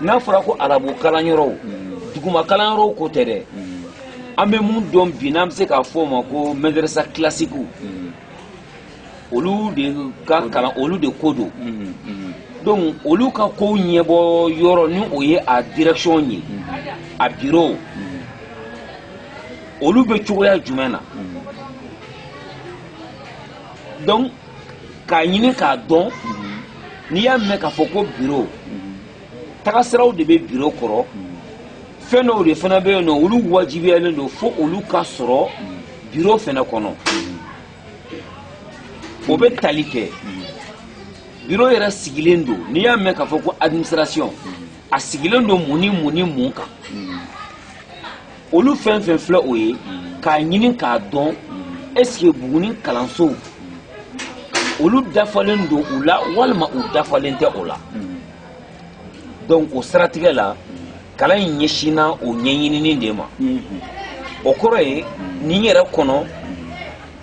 n'a fɔra ko arabu kalanyɔrɔw duguma kalanyɔrɔw ko tɛ dɛ an bɛ mun dɔn bi n'an bɛ se k'a fɔ o ma ko mɛdɛrɛsa kilasikiw olu de ka kalan olu de ko don donc olu ka kow ɲɛbɔ yɔrɔ ni o ye a direction ye a bureau olu bɛ cogoya jumɛn na donc k'a ɲini k'a dɔn n'i y'a mɛn k'a fɔ ko biro tagasiraw de bɛ biro kɔrɔ fɛn dɔw de fana bɛ yen nɔ olu wajibiyalen don fo olu ka sɔrɔ biro fana kɔnɔ o bɛ tali kɛ biro yɛrɛ sigilen don n'i y'a mɛn k'a fɔ ko administration a sigilen don mun ni mun ni mun kan olu fɛn fɛn filɛ o ye k'a ɲini k'a dɔn est-ce que buguni kalansow olu dafalen don u la walima u dafalen tɛ o la donc o siratigɛ la kalan in ɲɛsinna o ɲɛɲinini de ma o kɔrɔ ye nin yɛrɛ kɔnɔ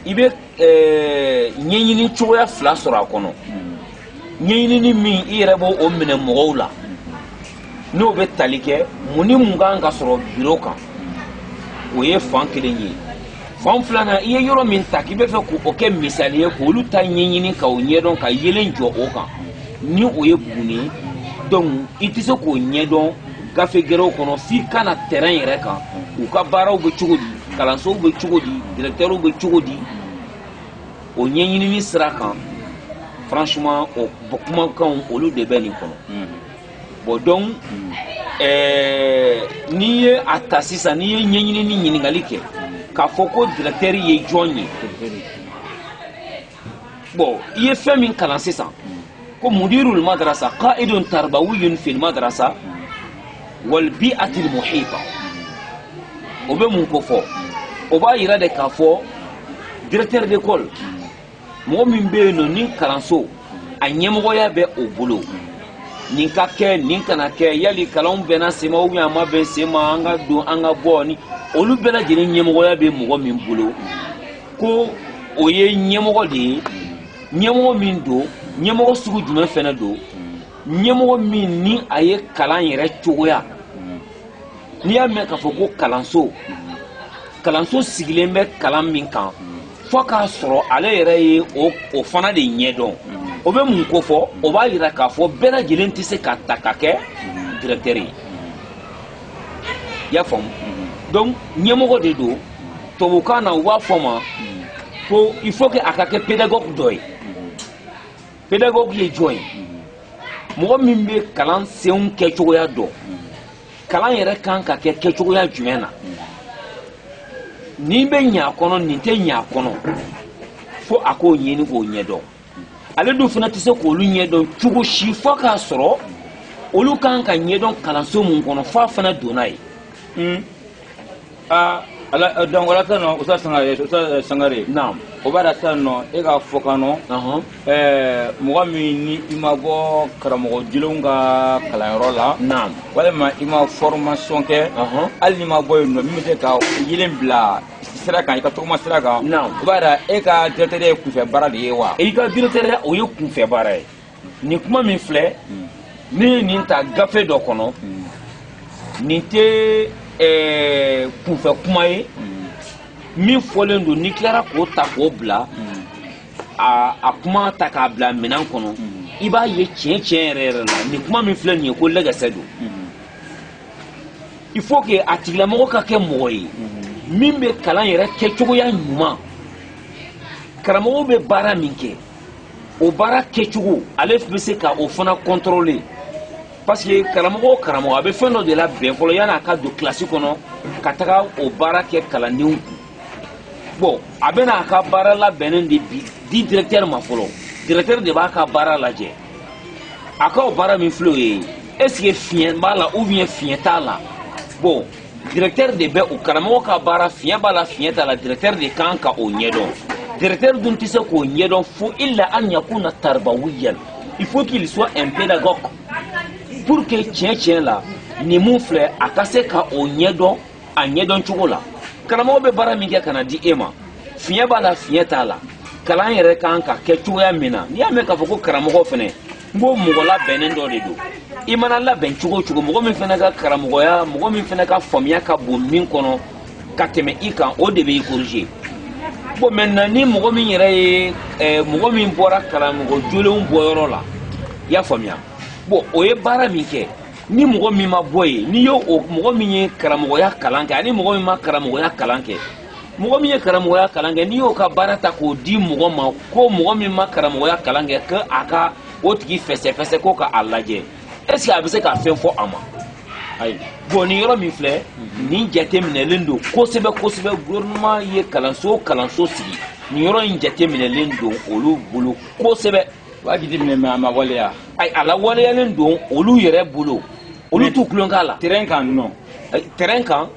i bɛ eh, ɲɛɲini cogoya fila sɔrɔ a kɔnɔ ɲɛɲinini min i yɛrɛ b'o o minɛ mɔgɔw la n'o bɛ tali kɛ mun ni mun kan ka sɔrɔ biro kan o ye fan kelen ye fan filanan i ye yɔrɔ min ta k'i bɛ fɛ k'o kɛ misali ye k'olu ta ɲɛɲini ka o ɲɛdɔn ka yeelen jɔ o kan ni o ye buguni ye donc i tɛ se k'o ɲɛdɔn gafe gɛrɛw kɔnɔ f'i ka na terrain yɛrɛ kan u ka baaraw bɛ cogo di kalansow bɛ cogo di directeurw bɛ cogo di o ɲɛɲinini sira kan franchement o kumakanw olu de bɛ nin kɔnɔ hmm. bon donc eh, n'i ye a ta sisan n'i ye ɲɛɲinini ɲininkali kɛ k'a fɔ ko directeur ye jɔn ye bon i ye fɛn min kalan sisan ko mudirul madrasa qaidun tarbawiyun fil madrasa wal bi'atil muhita o bɛ mun kofɔ o b'a yira de k'a fɔ directeur d'école mɔgɔ min bɛ yen nɔ ni kalanso a ɲɛmɔgɔya bɛ o bolo nin ka kɛ nin kana kɛ yali kalan bɛnna sen ma ou bien a ma bɛn sen ma an ka don an ka bɔ ni olu bɛɛ lajɛlen ɲɛmɔgɔya bɛ mɔgɔ min bolo ko o ye ɲɛmɔgɔ de ye ɲɛmɔgɔ min don ɲɛmɔgɔ sugu jumɛn fana don ɲɛmɔgɔ min ni a ye kalan yɛrɛ cogoya n'i y'a mɛn k'a fɔ ko kalanso kalanso sigilen bɛ kalan min kan fo k'a sɔrɔ ale yɛrɛ ye o fana de ɲɛdɔn o bɛ mun kofɔ o b'a yira k'a fɔ bɛɛ lajɛlen tɛ se ka ta ka kɛ directeur ye i y'a faamu donc ɲɛmɔgɔ de don tubabukan na u b'a fɔ ma ko il faut que a ka kɛ pédagogue dɔ ye pédagogue ye jɔn ye mɔgɔ min bɛ kalansenw kɛcogoya dɔn kalan yɛrɛ kan ka kɛ kɛcogoya jumɛn na nin bɛ ɲɛ a kɔnɔ nin tɛ ɲɛ a kɔnɔ fo a k'o ɲini k'o ɲɛdɔn ale dun fana tɛ se k'olu ɲɛdɔn cogo si fo k'a sɔrɔ olu kan ka ɲɛdɔn kalanso min kɔnɔ f'a fana donna yen. aa ala eh, donc wala tan no usa sangare eh, usa eh, sangare naam o bara tan no e ka fɔkan nɔ uh-huh. eh mɔgɔ min ni i ma bɔ karamɔgɔ jolenw ka kalanyɔrɔ la naam walima i ma formation kɛ uh-huh. hali n'i ma bɔ yen nɔ min bɛ se ka yeelen bila sira kan i ka tagama sira kan naam o b'a yira e ka directeurya ye kunfɛ baara de ye wa i ka directeurya o ye kunfɛ baara ye nin kuma min filɛ hmm. ne ye nin ta gafe dɔ kɔnɔ hmm. nin tɛ eh, kunfɛ kuma ye hmm. min fɔlen don n'i tilara k'o ta k'o bila a kuma ta k'a bila minɛn kɔnɔ i b'a ye tiɲɛ tiɲɛ yɛrɛ yɛrɛ la nin kuma min filɛ nin ye ko lɛgɛsɛ don il faut que a tigilamɔgɔ ka kɛ mɔgɔ ye min bɛ kalan yɛrɛ kɛcogoya ɲuman karamɔgɔ bɛ baara min kɛ o baara kɛcogo ale bɛ se ka o fana contrôler parce que karamɔgɔ o karamɔgɔ a bɛ fɛn dɔ de labɛn fɔlɔ yanni a ka don kilasi kɔnɔ ka taga o baara kɛ kalandenw kun bon a bɛna a ka baara labɛnnen de bi di directeur ma fɔlɔ directeur de b'a ka baara lajɛ a ka o baara min filɛ o ye est ce que fiɲɛ b'a la ou bien fiɲɛ t'a la bon directeur de bɛ o karamɔgɔ ka baara fiɲɛ b'a la fiɲɛ t'a la directeur de kan ka o ɲɛdɔn directeur dun tɛ se k'o ɲɛdɔn fo illa an yakuna tarbawiyan il faut qu'il soit un pédagogue pour que tiɲɛ tiɲɛ la nin min filɛ a ka se ka o ɲɛdɔn a ɲɛdɔn cogo la karamɔgɔ bɛ baara min kɛ ka na di e ma fiɲɛ b'a la fiɲɛ t'a la kalan yɛrɛ kan ka kɛ cogoya min na n'i y'a mɛn k'a fɔ ko karamɔgɔ fana n ko mɔgɔ labɛnnen dɔ de don i mana labɛn cogo o cogo mɔgɔ min fana ka karamɔgɔya mɔgɔ min fana ka faamuya ka bon min kɔnɔ ka tɛmɛ i kan o de bɛ i corriger bon maintenant ni mɔgɔ min yɛrɛ ye eh, mɔgɔ min bɔra karamɔgɔ jolenw bɔyɔrɔ la i y'a faamuya bon o ye baara min kɛ ni mɔgɔ min ma bɔ yen n'i y'o mɔgɔ min ye karamɔgɔya kalan kɛ ani mɔgɔ min ma karamɔgɔya kalan kɛ mɔgɔ min ye karamɔgɔya kalan kɛ n'i y'o ka baara ta k'o di mɔgɔ ma ko mɔgɔ min ma karamɔgɔya kalan kɛ ko a ka o tigi fɛsɛfɛsɛ ko ka a lajɛ est ce que a bɛ se ka fɛn fɔ a ma ayi bon nin yɔrɔ min filɛ nin jateminɛlen don kosɛbɛ kosɛbɛ gouvernement ye kalanso o kalanso sigi nin yɔrɔ in jateminɛlen don olu bolo kosɛbɛ u b'a jateminɛ mais a ma waleya ayi a lawaleyalen don olu yɛrɛ bolo olu t'u tulon k'a la terrain kan nɔ terrain kan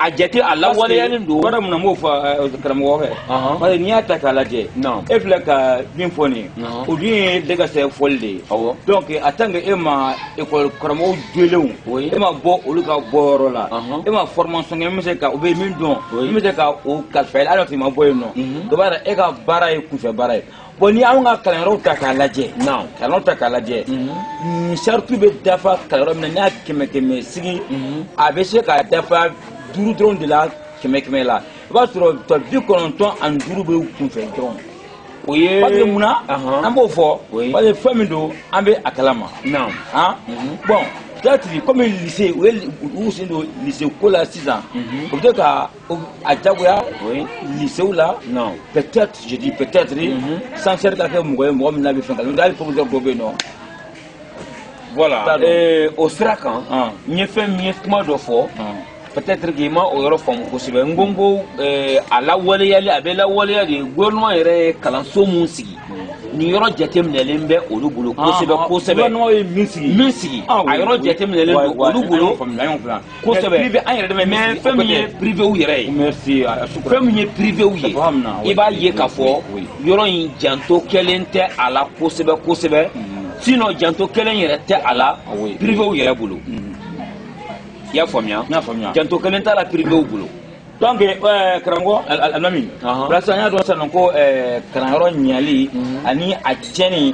a jate a lawaleyalen don bari mun na n b'o fɔ eh, karamɔgɔ fɛ Ɔhɔn. parce que n'i y'a ta k'a lajɛ Naam. e filɛ ka min fɔ nin ye Naam. o dun ye de ka sɛ fɔli de ye Awɔ. donc en tant que e ma école karamɔgɔw jolenw Oui. e ma bɔ olu ka bɔyɔrɔ la Ɔhɔn. e ma formation kɛ min bɛ se ka u bɛ min dɔn Oui. min bɛ se ka o kalifa i la hali n'a sɔrɔ i ma bɔ yen nɔ Mhm. o b'a yira e ka baara ye kunfɛ baara ye bon ni anw ka kalanyɔrɔw ta k'a lajɛ non kalanyɔrɔ ta k'a lajɛ mhm. saritu bɛ dafa kalanyɔrɔ min na n'i y'a kɛmɛ kɛmɛ sigi mhm. a bɛ se k'a dafa duuru dɔrɔn de la kɛmɛ kɛmɛ la i b'a sɔrɔ tɔ bi kɔnɔntɔn ani duuru bɛ kunfɛ dɔrɔn o ye parce que mun na an b'o fɔ parce que fɛn min don an bɛ a kalama non han mhm. bon peut-être comme lycée u ye u sen don lycée ko la sisan u bɛ to ka a jagoya lycéew la peut-être je dis peut-être censeur ka kɛ mɔgɔ ye mɔgɔ min n'a bɛ fɛn kalama hali proviseur dɔ bɛ yen nɔ voilà eh, o sira kan ah. n ye fɛn min ye kuma dɔ fɔ ah. peut-être k'i ma o yɔrɔ faamu kosɛbɛ n ko n ko eh, a lawaleyali a bɛ lawaleya de gouvernement yɛrɛ ye kalanso mun sigi hmm. nin yɔrɔ jateminɛlen bɛ olu bolo ah, kosɛbɛ kosɛbɛ gouvernement ye min sigi min sigi a yɔrɔ jateminɛlen don olu bolo kosɛbɛ privé an yɛrɛ dɛmɛ mais fɛn min ye privéw yɛrɛ ye merci fɛn min ye privéw ye i b'a ye k'a fɔ yɔrɔ in janto kɛlen tɛ a la kosɛbɛ kosɛbɛ sinon janto kɛlen yɛrɛ tɛ a la privéw yɛrɛ bolo i y'a faamuya janto kɛlen t'a la privéw bolo donc euh, karamɔgɔ alimami parce que an y'a dɔn sisan ko euh, kalanyɔrɔ ɲali mhm. ani a tiɲɛni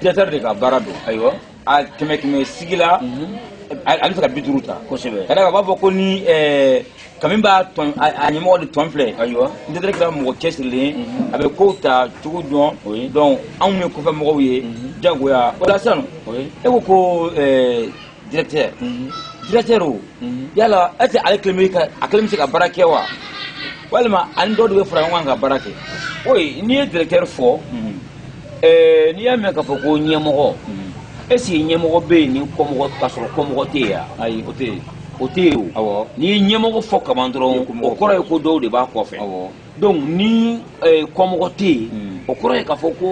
directeur de ka baara don ayiwa a kɛmɛ kɛmɛ sigi la ale bɛ se ka bi duuru ta kosɛbɛ ka d'a kan u b'a fɔ ko ni ɛɛ kami b'a tɔn a a ɲɛmɔgɔ de tɔn filɛ ayiwa ni directeur kɛra mɔgɔ cɛsirilen a bɛ kow ta cogo dɔn Oui. donc anw ye kɔfɛ mɔgɔw ye jagoya o la sisan Oui. e ko ko ɛɛ directeur directeur o yala est ce que ale kelen bɛ ka a kelen bɛ se ka baara kɛ wa walima ani dɔw de bɛ fara ɲɔgɔn kan ka baara kɛ oui n'i ye directeur fɔ ɛɛ n'i y'a mɛn k'a fɔ ko ɲɛmɔgɔ est ce que ɲɛmɔgɔ bɛ yen ni kɔmɔgɔ k'a sɔrɔ kɔmɔgɔ tɛ yen wa ayi o tɛ yen o tɛ yen o awɔ n'i ye ɲɛmɔgɔ fɔ kaban dɔrɔn o kɔrɔ ye ko dɔw de b'a kɔfɛ awɔ donc ni eh, kɔmɔgɔ tɛ yen hmm. o kɔrɔ ye k'a fɔ ko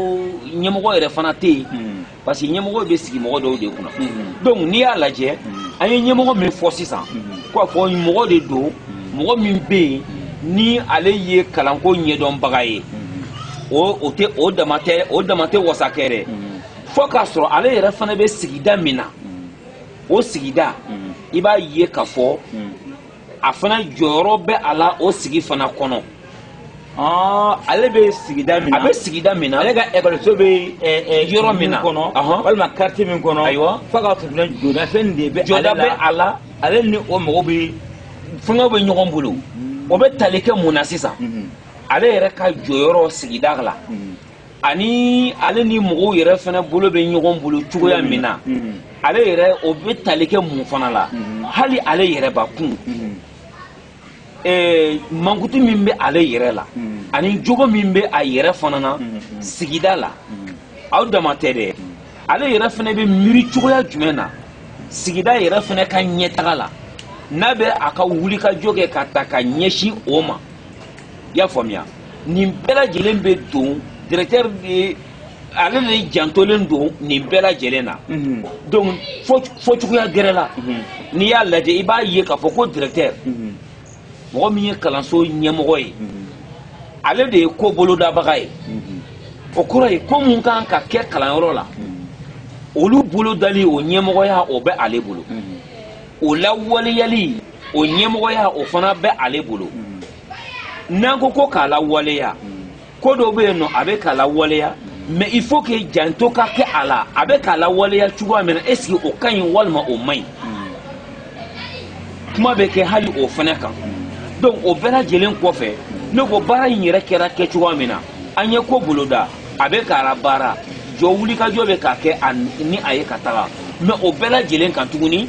ɲɛmɔgɔ yɛrɛ fana tɛ yen hmm. parce que ɲɛmɔgɔ bɛ sigi mɔgɔ dɔw de kunna hmm. donc n'i y'a lajɛ an ye ɲɛmɔgɔ min fɔ sisan k'a fɔ mɔgɔ de don mɔgɔ min bɛ yen ni ale ye kalanko ɲɛdɔnbaga ye o o tɛ o dama tɛ o dama tɛ wasa kɛ dɛ fo k'a sɔrɔ ale yɛrɛ fana bɛ sigida min na o sigida i b'a ye k'a fɔ a fana jɔyɔrɔ bɛ a la o sigi fana kɔnɔ. Ah, ale bɛ sigida min na a bɛ sigida min na ale ka ekɔliso bɛ eh, eh, yɔrɔ min na kɔnɔ walima quartier min kɔnɔ ayiwa fo k'a sɔrɔ jɔda fɛn de bɛ jɔda bɛ a la ale ni o mɔgɔw bɛ fɛngɛw bɛ ɲɔgɔn bolo o bɛ tali kɛ mun na sisan. Mhm. ale yɛrɛ ka jɔyɔrɔ sigida la ani ale ni mɔgɔw yɛrɛ fana bolo bɛ ɲɔgɔn bolo cogoya min na ale yɛrɛ o bɛ tali kɛ mun fana la hali ale yɛrɛ bakun eh, mankutu min bɛ ale yɛrɛ la ani jogo min bɛ a yɛrɛ fana na sigida la aw dama tɛ dɛ ale yɛrɛ fana bɛ miiri cogoya jumɛn na sigida yɛrɛ fana ka ɲɛtaga la n'a bɛ a ka wulikajɔ kɛ ka taa ka ɲɛsin o ma i y'a faamuya nin bɛɛ lajɛlen bɛ don directeur de ale de jantolen don nin bɛɛ lajɛlen na mhm. donc fɔcogoya gɛrɛ la mhm. n'i y'a lajɛ i b'a ye k'a fɔ ko directeur mhm. mɔgɔ min ye kalanso ɲɛmɔgɔ ye ale de ye ko bolodabaga ye o kɔrɔ ye ko mun kan ka kɛ kalanyɔrɔ la olu bolodali o ɲɛmɔgɔya o bɛ ale bolo o lawaleyali o ɲɛmɔgɔya o fana bɛ ale bolo n'an ko ko k'a lawaleya ko dɔw bɛ yen nɔ a bɛ k'a lawaleya mais il faut que janto ka kɛ a la a bɛ k'a lawaleya cogoya min na est ce que o ka ɲi walima o man ɲi kuma bɛ kɛ hali o fana kan donc o bɛɛ lajɛlen kɔfɛ ne ko baara in yɛrɛ kɛra kɛcogoya min na an ye ko boloda a bɛ k'a labaara jɔ wulikajɔ bɛ ka kɛ ni a ye ka taga mais o bɛɛ lajɛlen kan tuguni